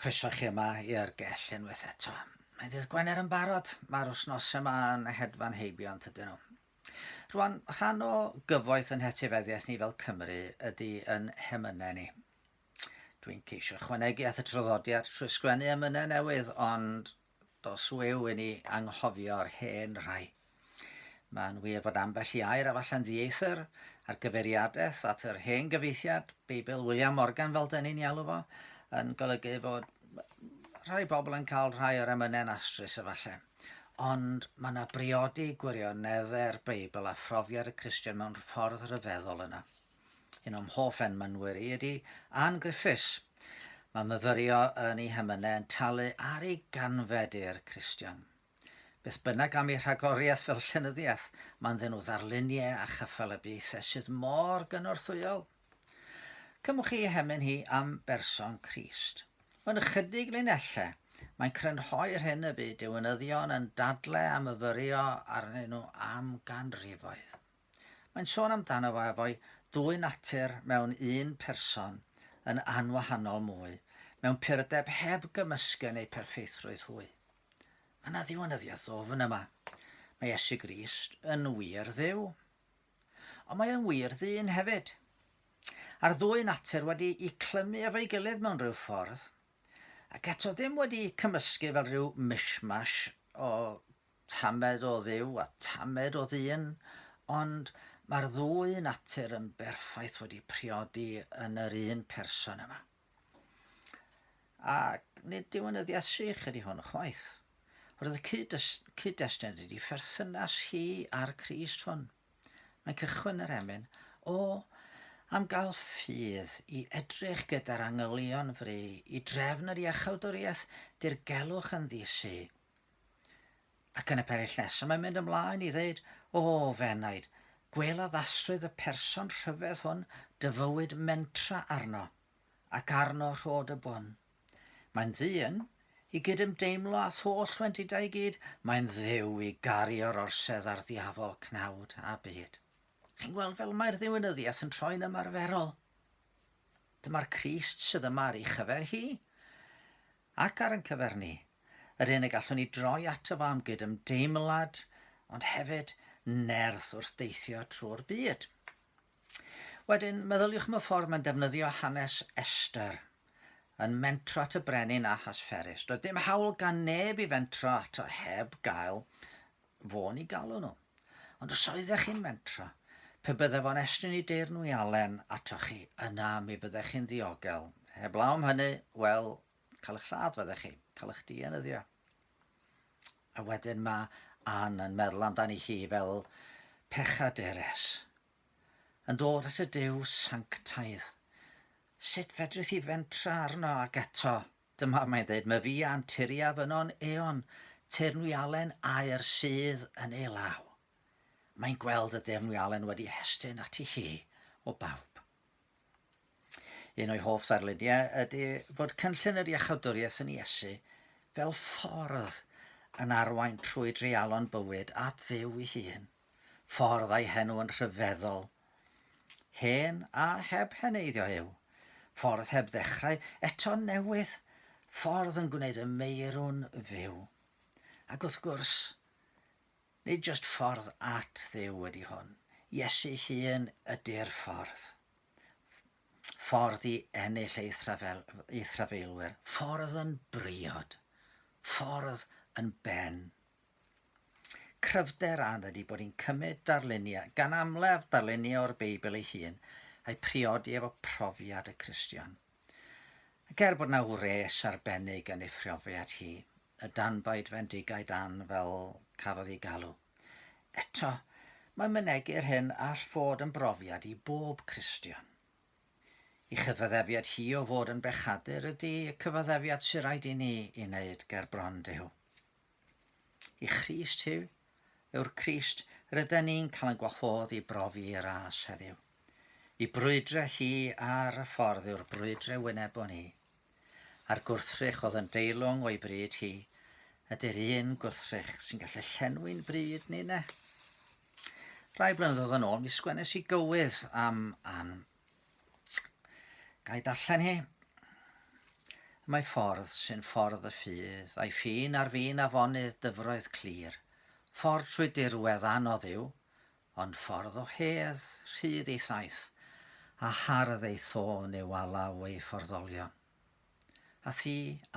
Croeso chi yma i'r gell unwaith eto. Mae dydd Gwener yn barod, mae'r wsnos yma yn hedfan heibio yn tydyn nhw. Rwan, rhan o gyfoeth yn hetifeddiaeth ni fel Cymru ydy yn hemynau ni. Dwi'n ceisio chwanegu at y traddodiad trwy sgwennu emynau newydd, ond dos wyw i ni anghofio'r hen rhai. Mae'n wir fod ambell i air a falle'n ddieithr ar gyfeiriadaeth at yr hen gyfeithiad, Beibl William Morgan fel dyn ni'n ialw fo, yn golygu fod rhai pobl yn cael rhai o'r emynau'n astrus efallai. Ond mae yna briodi gwirionedde'r Beibl a phrofiad y Christian mewn ffordd rhyfeddol yna. Un o'm hoff enmynwyr i ydi Ann Griffiths. Mae myfyrio yn ei hymynau yn talu ar ei ganfed i'r Cristion. Beth bynnag am ei rhagoriaeth fel llenyddiaeth, mae'n ddyn o ddarluniau a chyffelybiaethau sydd mor gynorthwyol. Cymwch chi hemyn hi am berson Crist. Mewn ychydig linellau, mae'n crynhoi'r hyn y bu diwynyddion yn dadle a myfyrio arnyn nhw am ganrifoedd. Mae'n sôn amdano fo efo'i dwy natur mewn un person yn anwahanol mwy, mewn purdeb heb gymysgen ei pherffeithrwydd hwy. Mae yna ddiwinyddiaeth ddwfn yma. Mae Iesu Grist yn wir Dduw. Ond mae yn wir ddyn hefyd. A'r ddwy natur wedi'u clymu efo'i gilydd mewn rhyw ffordd, ac eto ddim wedi'u cymysgu fel rhyw mishmash o tamed o Dduw a tamed o ddyn, ond mae'r ddwy natur yn berffaith wedi priodi yn yr un person yma. Ac nid diwynyddiaeth sych ydy hwn chwaith. Roedd y cyd-destun ydy pherthynas hi a'r Crist hwn. Mae'n cychwyn yr emyn o am gael ffydd i edrych gyda'r angylion fri i drefn yr iachawdwriaeth dirgelwch yn ddisu Ac yn y perill nesaf mae'n mynd ymlaen i ddeud, O, fenaid, gwela ddasrwydd y person rhyfedd hwn dy fywyd mentra arno, ac arno rhod y bwn. Mae'n ddyn i gydymdeimlo â tholl wendidau i gyd, mae'n dduw i garu o'r orsedd a'r ddiafol cnawd a byd. Chi'n gweld fel mae'r ddiwinyddiaeth yn troi'n ymarferol? Dyma'r Crist sydd yma ar ei chyfer hi. ac ar ein cyfer ni, yr hyn y gallwn ni droi ato fo am gydymdeimlad, ond hefyd nerth wrth deithio trwy'r byd. Wedyn, meddyliwch am y ffordd mae'n defnyddio hanes Esther yn mentro at y brenin Ahasferus. Doedd dim hawl gan neb i fentro ato heb gael fo ni galw nhw. Ond os oeddech chi'n mentra, pe byddai fo'n estyn i deir nhw i Alen atoch chi, yna mi fyddech chi'n ddiogel. Heblaw am hynny, wel, cael eich lladd fyddech chi, cael eich dienyddio. A wedyn mae Anne yn meddwl amdani hi fel pechaderes, yn dod at y Duw sanctaidd. Sut fedrith hi fentra arno ac eto Dyma mae'n deud, Mae fi a'n turiaf yno'n eon, teyrnwialen aer sydd yn ei law. Mae'n gweld y deyrnwialen wedi hestyn ati hi o bawb. Un o'i hoff ddarluniau ydy fod cynllun yr iachawdwriaeth yn Iesu fel ffordd yn arwain trwy dreialon bywyd at Dduw ei hun. Ffordd a'i henw yn rhyfeddol. Hen a heb heneiddio yw. Ffordd heb ddechrau, eto'n newydd. Ffordd yn gwneud y meirw'n fyw. Ac wrth gwrs, nid jyst ffordd at Dduw ydy hwn. Iesu hun ydy'r ffordd. Ffordd i ennill ei thrafel, ei thrafeilwyr. Ffordd yn briod. Ffordd yn ben Cryfder a ydy bod hi'n cymryd darluniau, gan amlaf darluniau o'r Beibl ei hun, a'i priodi efo profiad y Cristion. Ac er bod na wres arbennig yn ei phrofiad hi, y danbaid fendigaid ann fel cafodd ei galw, eto, mae mynegi'r hyn all fod yn brofiad i bob Cristion. I chyfaddefiad hi o fod yn bechadur ydy y cyfaddefiad sy'n rhaid i ni i wneud ger bron Duw. I Christ Huw yw'r Crist rydyn ni'n cael yn gwahodd i brofi y ras heddiw. I brwydre hi ar y ffordd yw'r brwydre wynebon ni. A'r gwrthrych oedd yn deilwng o'i bryd hi, ydy'r un gwrthrych sy'n gallu llenwi'n bryd ni ne. Rai blynyddoedd yn ôl, mi sgwennes i gywydd am Ann Gai darllen hi? Mae ffordd sy'n ffordd y ffydd, a'i ffin ar fin afonydd dyfroedd clir. Ffordd trwy dirwedd anodd yw, ond ffordd o hedd, rhydd ei thaith, a hardd ei thôn yw alaw ei fforddolion. A thi,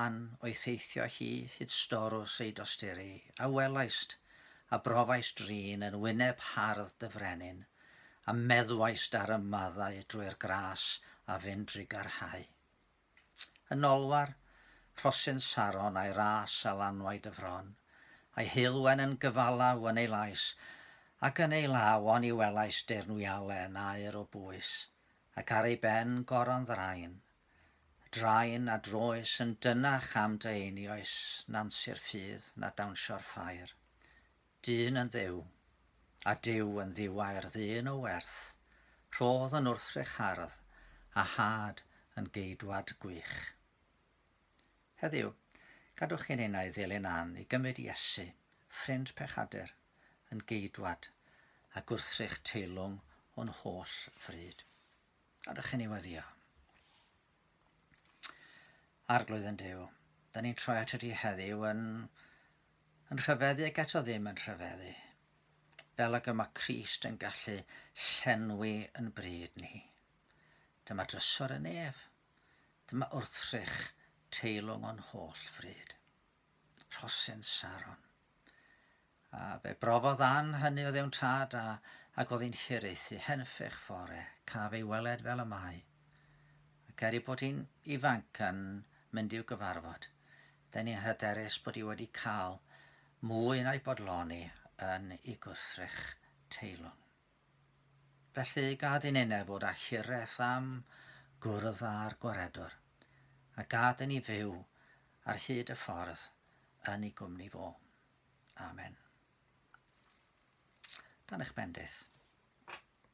Ann, o'i theithio hi hyd storws ei dosturi, a welaist, a brofaist drin yn wyneb hardd dy frenin, a meddwaist ar y maddau drwy'r gras a fyn drugarhau. Yn olwar, rhosyn Saron a'i ras a lanwaid y fron, a'i heulwen yn gyfalau yn ei lais, ac yn ei law oni welaist deirnwialen aur o bwys, ac ar ei ben goron ddrain, drain a droes yn dynach am dy einioes na'n sir ffydd na dawnsio'r ffair. Dyn yn dduw, a Duw yn ddiwau'r ddyn o werth, rhodd yn wrthrych hardd, a had yn geidwad gwych. Heddiw, gadwch i ninnau ddilyn Ann i gymryd Iesu, ffrind pechadur, yn geidwad a gwrthrych teilwng o'n holl fryd. Gadwch i ni weddio. Arglwydd yn Duw, da ni'n troi at ydi heddiw yn, yn rhyfeddu ac eto ddim yn rhyfeddu. Fel ag y mae Christ yn gallu llenwi yn bryd ni. Dyma drysor yn ef, Dyma wrthrych teilwng o'n holl fryd. Rhosyn Saron. A fe brofodd Ann hynny oedd ewn tad a, ac oedd hi'n hiraethu, henffych fore, caf ei weled fel y mae. Ac er ei bod hi'n ifanc yn mynd i'w gyfarfod, dyn ni'n hyderus bod hi wedi cael mwy na'i bodloni yn ei gwrthrych teilwng. Felly, gad i ninnau fod â hiraeth am gwrdd â'r Gwaredwr, a gad i ni fyw ar hyd y ffordd yn ei gwmni fo. Amen. Dan eich bendith.